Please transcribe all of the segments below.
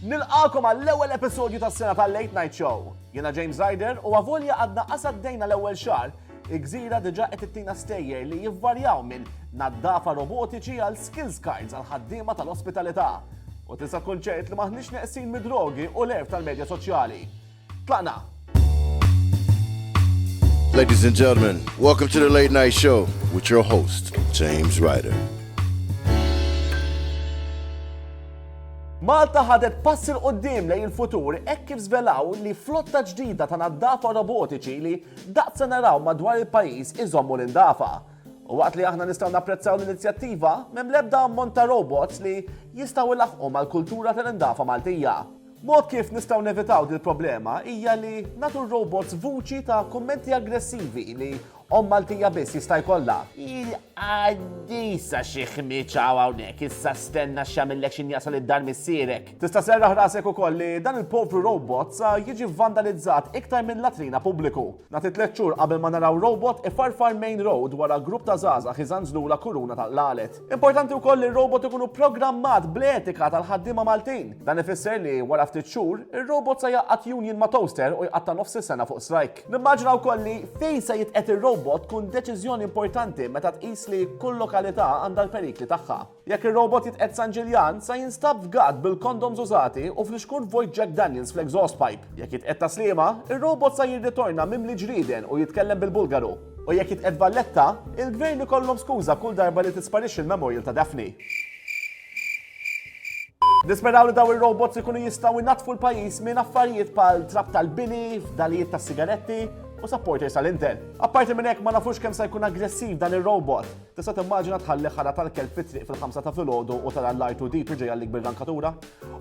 Nilqakom għall-ewwel episodju tas-sena tal-Late Night Show. Jiena James Ryder u għavolja għadna qasaddejna l-ewwel xahar, il-gżira diġà qed ittina stejjer li jivvarjaw minn naddafa robotiċi għal skills cards għal ħaddiema tal-ospitalità. U tista' tkun ċert li maħniex neqsin mid-drogi u l-erf tal-medja soċjali. Tlaqna! Ladies and gentlemen, welcome to the Late Night Show with your host, James Ryder. Malta ħadet passi l-qoddim lejn il-futur hekk kif żvelaw li flotta ġdida ta' naddafa robotiċi li daqsa naraw madwar il-pajjiż iżommu l-indafa. U waqt li aħna nistgħu napprezzaw l-inizjattiva, m'hemm l-ebda ammont ta' robots li jistgħu ilaħqu mal-kultura tal-indafa Maltija. Mod kif nistgħu nevitaw dil-problema hija li nagħtu r-robots vuċi ta' kummenti aggressivi li omm Maltija biss jista' jkollha. Il-qaddisa xi ħmieġ hawn hawnhekk, issa stenna x'jagħmillek x'in jasal id-dar missierek. Tista' sserraħ rasek ukoll li dan il-povru robot sa jiġi vandalizzat iktar minn latrina pubbliku. Nagħti tliet xhur qabel ma naraw robot ifarfar main road wara grupp ta' żgħażagħ iżanżlula kuruna ta' qlalet. Importanti wkoll li r-robot ikunu pprogrammat bl-etika tal-ħaddiema Maltin. Dan ifisser li, wara ftit xhur, ir-robot se jgħaqqad union ma' toaster u jqatta' nofs is-sena fuq strike. Nimmaġina wkoll li fejn se jitqiegħed ir-robot tkun deċiżjoni importanti meta tqis li kull lokalità għandha l-perikli tagħha. Jekk ir-robot jitqiegħed San Ġiljan, sa jinstab f'gatt bil-kondoms użati u fl-ixkurt vojt Jack Daniels fl-exhaust pipe. Jekk jitqiegħed ta' Sliema, ir-robot sa jirritorna mimli ġrieden u jitkellem bil-Bulgaru. U jekk jitqiegħed Valletta, il-Gvern ikollhom skuża kull darba li tisparixxi l-memorial ta' Daphne. Nisperaw li dawn ir-robots ikunu jistgħu jnaddfu l-pajjiż minn affarijiet bħal trab tal-bini, fdalijiet tas-sigaretti u supporters tal-Inter. Apparti minn hekk ma nafux kemm sa jkun aggressiv dan ir-robot. Tista' timmaġina tħalli ħara tal-kelb fit-triq fil-ħamsa ta' filgħodu u tara l-R2D2 ġej għalik bir-rankatura?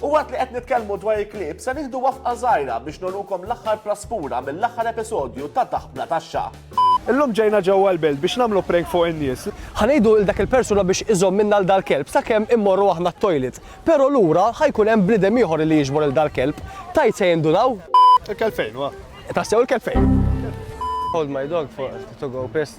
U waqt li qed nitkellmu dwar il-klieb, se nieħdu wafqa żgħira biex nurukom l-aħħar praspura mill-aħħar episodju ta' Taħt Bla Taxxa. Illum ġejna ġewwa l-belt biex nagħmlu prank fuq in-nies. Ħa ngħidu lil dak il-persuna biex iżommilna 'l dal-kelb sakemm immorru aħna t-toilet. Però lura ħa jkun hemm bniedem ieħor li jiġbor 'l dal-kelb. Tgħid se jindunaw? Il-kelb fejn huwa? Tassew il-kelb fejn? Hold my dog for to go piss.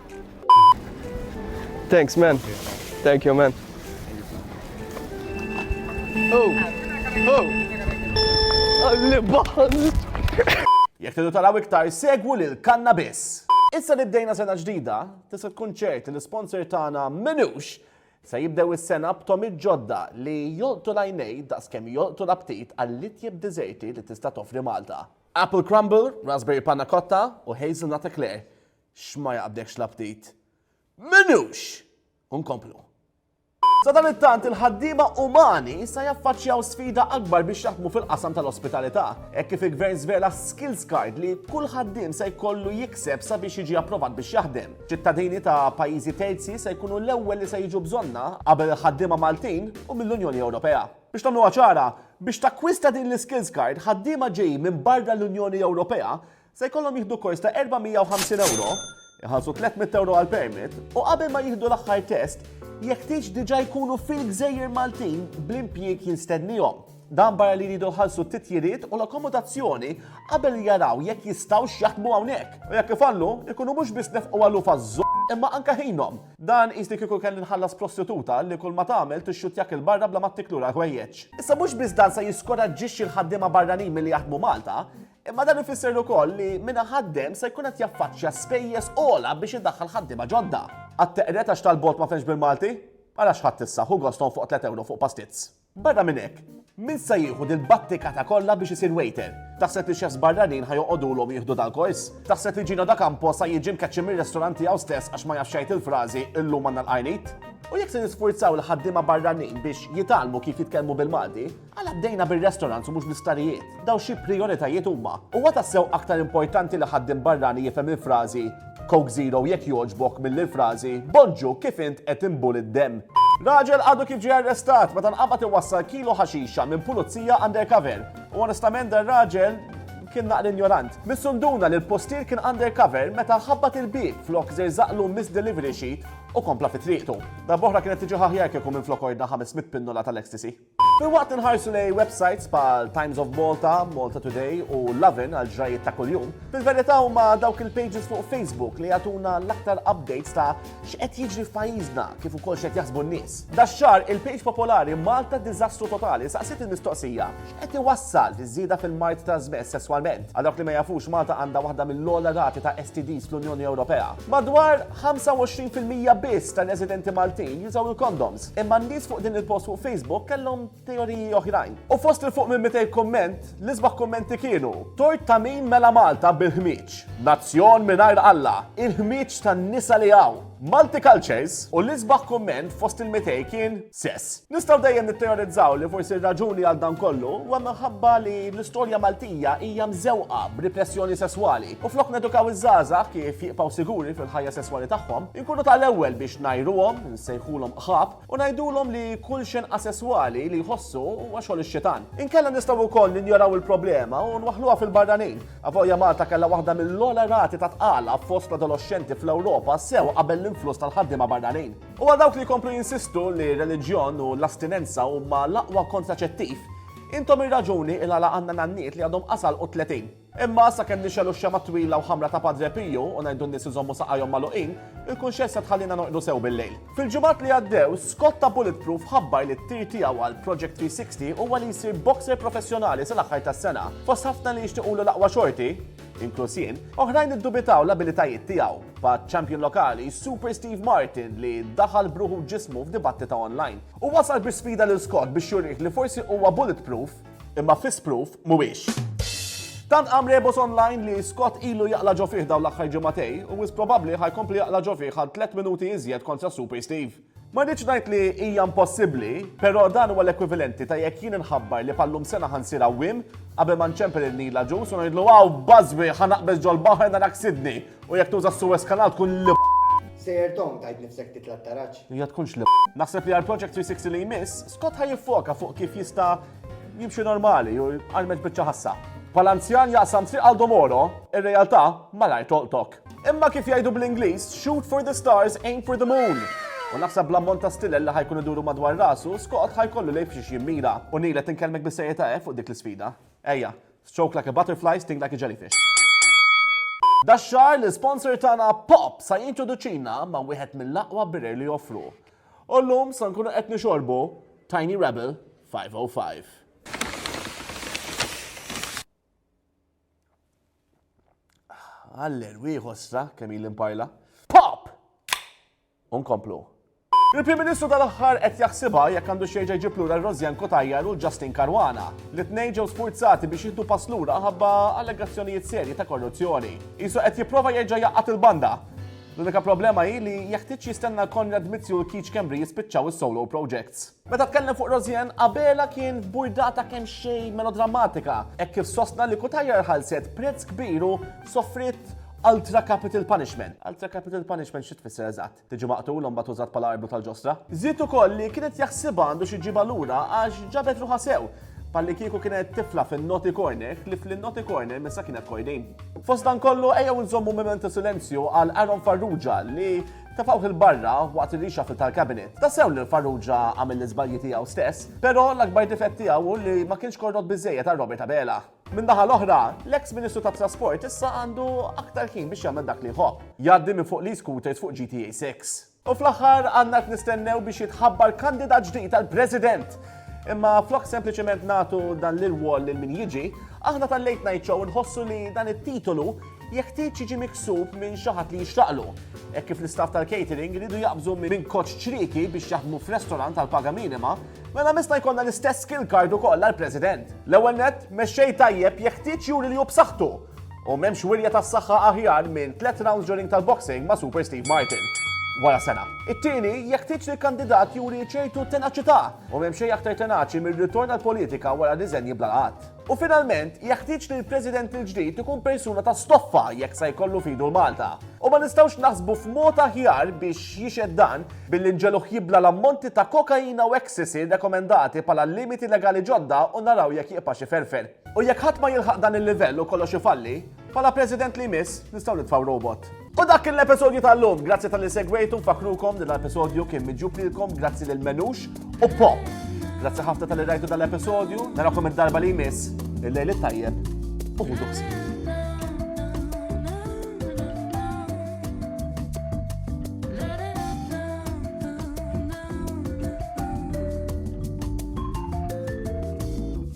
Thanks, man. Thank you, man. Oh! Oh! Jek tidu taraw iktar, segwu lil kannabis. Issa li bdejna sena ġdida, tista' tkun ċert li sponsor tagħna minux se jibdew is-sena b'tomi ġodda li jolqtu lajnej daqs kemm jolqtu l-aptit għall-itjeb diżerti li tista' toffri Malta. Apple Crumble, Raspberry Panna Cotta u Hazelnut Eclair X'ma jaqbdekx l-aptit? M'inhux! U nkomplu. Sadanittant, il-ħaddiema umani sa jaffaċċjaw sfida akbar biex jaħdmu fil-qasam tal-ospitalità, hekk kif il-Gvern żvela s-skills card li kull ħaddiem se jkollu jikseb sabiex jiġi approvat biex jaħdem. Ċittadini ta' pajjiżi terzi se jkunu l-ewwel li se jiġu bżonnha, qabel il-ħaddiema Maltin u mill-Unjoni Ewropea. Biex nagħmluha ċara, biex takkwista din l-iskills card, ħaddiema ġejjin minn barra l-Unjoni Ewropea Se jkollhom jieħdu kors ta' 450 ewro, iħallsu 300 ewro għall-permit u qabel ma jieħdu l-aħħar test, jeħtieġ diġà jkunu fil-gżejjer Maltin bl-impjieg jinstennihom. Dan barra li jridu jħallsu t-titjiriet u l-akkomodazzjoni qabel jaraw jekk jistgħux jaħdmu hawnhekk. U jekk ifallu, ikunu mhux biss nefqu għaluf għaż imma anke ħinhom. Dan qis li kieku kelli nħallas prostituta li kull ma tagħmel tixxuttjak 'il barra bla ma ttik lura l-ħwejjeġ. Issa mhux biss dan se jiskoraġġixxi l-ħaddiema barranin milli jaħdmu Malta, Imma dan ifisser ukoll li min ħaddem se jkun qed jaffaċċja spejjeż ogħla biex idaħħal ħaddiema ġodda. Għat-teqret għax tal-bot ma fenx bil-Malti? Għala xħatt issa, hu goston fuq 3 euro fuq pastizz. Barra minn hekk, min se jieħu dil-battikata kollha biex isir waiter? Taħseb li xefs barranin ħajoqogħdulhom jieħdu dal-kors? Taħseb li Ġino da Campo sa jiġi mkeċċi mir-restaurant tiegħu stess għax ma jafx jgħid il-frażi illum għandna l-qajnit? U jekk se nisfurzaw l-ħaddiema barranin biex jitalmu kif jitkellmu bil-Malti, Għala bdejna bir-restaurants u mhux bl-isptarijiet? Dawn xi prijoritajiet huma? Huwa tassew aktar importanti li ħaddiem barrani jifhem il-frażi Coke Zero jekk jogħġbok milli l-frażi Bonġu kif int qed inbuli d-demm? Raġel għadu kif ġie arrestat meta nqabad iwassal kilo ħaxixa minn pulizija undercover. U onestament dan raġel kien naqra injorant. Missu nduna li l-postier kien undercover meta ħabbat il-bieb flok żerżaqlu miss delivery sheet u kompla fi triqtu. Darb'oħra kienet tiġi aħjar kieku minflok ordna 500 pinnola tal-ecstasy. Filwaqt li nħarsu lej websites bħal Times of Malta, Malta Today u Lovin għal ġrajiet ta' kuljum, fil-verità huma dawk il-pages fuq Facebook li jagħtuna l-aktar updates ta' x'qed jiġri f'pajjiżna kif ukoll x'qed jaħsbu n-nies. Dax-xahar il-page popolari Malta Diżastru Totali saqsiet il-mistoqsija x'qed iwassal fiż-żieda fil-mard trasmess sesswalment. Għal dawk li ma jafux Malta għandha waħda mill-ogħla rati ta' STDs fl-Unjoni Ewropea. Madwar 25% biss tar-residenti Maltin jużaw il-kondoms. Imma n-nies fuq din il-post fuq Facebook kellhom teoriji oħrajn. U fost il fuq minn 200 kumment, l-isbaħ kummenti kienu Tort ta' min mela Malta bil-ħmieġ? Nazzjon mingħajr Alla, il-ħmieġ tan-nisa li hawn! Multi cultures u l-isbaħ kumment fost il-200 kien sess. Nistgħu dejjem nitteorizzaw li forsi r-raġuni għal dan kollu huwa minħabba li l-istorja Maltija hija mżewqa b'ripressjoni sesswali u flok nedukaw iż-żgħażagħ kif jibqgħu siguri fil-ħajja sesswali tagħhom, inkunu tal-ewwel biex ngħiruhom nsejħulhom qħab u ngħidulhom li kull xenn asesswali li jħossu huwa xogħol ix-xitan. Inkella nistgħu wkoll ninjoraw il-problema u nwaħħluha fil-barranin. Avolja Malta kellha waħda mill-ogħla rati ta' tqala fost l-adoloxxenti fl-Ewropa sew qabel l-influss tal-ħaddiema barranin. U għal dawk li jkomplu jinsistu li r-reliġjon u l-astinenza huma l-aqwa kontraċettiv, intom ir-raġuni il-għala għandna nanniet li għadhom qas għalqu t-tletin. Imma, sakemm nixegħlu x-xemgħa t-twila u ħamra ta' Padre Piju u ngħidu n-nies iżommu saqajhom magħluqin, il-kunxjezza tħallina norqdu sew bil-lejl. Fil-ġimgħat li għaddew, Scott ta' Bulletproof ħabbar li t-tir tiegħu għal Project 360 huwa li jsir boxer professjonali sal-aħħar tas-sena. Fost ħafna li jixtiqulu l-aqwa xorti, inkluż jien, oħrajn iddubitaw l-abilitajiet tiegħu, bħaċ-champion lokali, Super Steve Martin li daħal b'ruħu u ġismu f'dibattita online. U wasal bi sfida lil Scott biex jurih li forsi huwa bulletproof, Imma fis-spruf mhuwiex. Tant qam rebos online li Scott ilu jaqla ġo fih dawn l-aħħar ġimagħtej u wis probabbli ħajkompli jaqla ġo fih għal tliet minuti iżjed kontra Super Steve. Ma rridx ngħid li hija impossibbli, però dan huwa l-ekwivalenti ta' jekk jien inħabbar li bħal-lum sena ħa nsir għawwiem qabel ma nċempel il-Nil aġus u ngħidlu għaw bażwi ħa naqbeż ġol-baħar narak Sydney u jekk tuża s-Suez Kanal tkun l Sejjer Tom tajt nifsek titla t-taraġ. Hija tkunx li Naħseb li għal Project 360 li jmiss, Scott ħa jiffoka fuq kif jista' jimxi normali u jqarmeġ biċċa ħassa. Bħala anzjan jaqsam triq Aldo Moro, ir-realtà malajr tolqtok. Imma kif jgħidu bl-Ingliż, shoot for the stars, aim for the moon! U naħseb bl-ammont ta' stilel li ħa jkun iduru madwar rasu, Scott ħa jkollu lejl f'xiex jimmira. U Neil qed inkellmek bis-serjetà hekk fuq dik l-isfida? Ejja, stroke like a butterfly, sting like a jellyfish. Dax-xahar l-isponsor tagħna Pop sa jintroduċina ma' wieħed mill-aqwa birer li joffru. U llum sa nkunu qed nixorbu Tiny Rebel 505. Għaller, wieħ ostra kemm il imparla. Pop! Unkomplu. Il-Prim Ministru tal-aħħar qed jaħsibha jekk għandu xejġa jġib lura Rosjan Kotajjar u Justin Karwana. Li tnejn ġew sfurzati biex jiddu pass lura ħabba allegazzjonijiet serji ta' korruzzjoni. Isu qed jipprova jerġa' jaqgħat il-banda L-unika problema hi li jeħtieġ jistenna Konrad Mizzi u l-Keach Schembri jispiċċaw is-solo projects. Meta tkellem fuq Rosianne, Abela kien f'burdata kemxejn melodrammatika hekk kif sostna li Cutajar ħallset prezz kbir u sofriet ultra capital punishment. Ultra capital punishment xi tfisser eżatt? Tiġi maqtul u mbagħad użat bħala arbru tal-ġostra? Żied ukoll li kienet jaħsibha għandu xi jġibha lura għax ġabet ruħha sew. Pallikieku kienet tifla fin-noti corner, li fl-noti corner missa kienet kojdejn. Fost dan kollu ejjew nżommu memento silenzju għal Aaron Farrugia li tefawh il-barra waqt ir-rixa fil tal-kabinet. Ta' sew li l-Farrugia għamel l-iżbalji tiegħu stess, però l-akbar difett tiegħu hu li ma kienx korrott biżżejjed għal Robert Abela. Min-naħa l-oħra, l-eks Ministru tat-Trasport issa għandu aktar ħin biex jagħmel dak li jħobb, jgħaddi minn fuq l-e-scooters fuq GTA 6. U fl-aħħar għandna qed nistennew biex jitħabbar kandidat ġdid għal President. Imma flok sempliċement nagħtu dan l-irwol lil min jiġi, aħna tal-late night show nħossu li dan it-titolu jeħtieġ jiġi miksub minn xi ħadd li jixtaqlu. Hekk kif l-istaff tal-catering iridu jaqbżu minn koċ ċrieki biex jaħdmu f'restorant għal paga minima, mela mista jkollna l-istess skill card ukoll għall-President. L-ewwel nett, mexxej tajjeb jeħtieġ juri li hu b'saħħtu U m'hemmx wirja tas-saħħa aħjar minn tliet rounds during tal-boxing ma' Super Steve Martin. Wara sena. It-tieni, jeħtieġ li l-kandidat juri ċertu tenaċità. U m'hemm xejn aktar tenaċi mir-ritorn għall-politika wara r-riżenji bla laqgħat. U finalment, jeħtieġ li l-President il-ġdid ikun persuna ta' stoffa jekk sa jkollu f'idu l-Malta. U ma nistgħux naħsbu f'mod aħjar biex jixhed dan billi nġegħluh jibla' l-ammonti ta' kokaina u ecstasy rekomendati bħala limiti legali ġodda u naraw jekk jibqax iferfer. U jekk ħadd ma jilħaq dan il-livell u kollox ifalli, bħala President li jmiss nistgħu nitfgħu robot. U dak kien l-episodju tal-lum, grazzi tal-li segwejtu, fakrukom li l-episodju kien miġub lilkom grazzi lil Menux u Pop. Grazzi ħafna tal-li rajtu dal-episodju, narakom id-darba li jmiss, il-lejl it-tajjeb u ħudu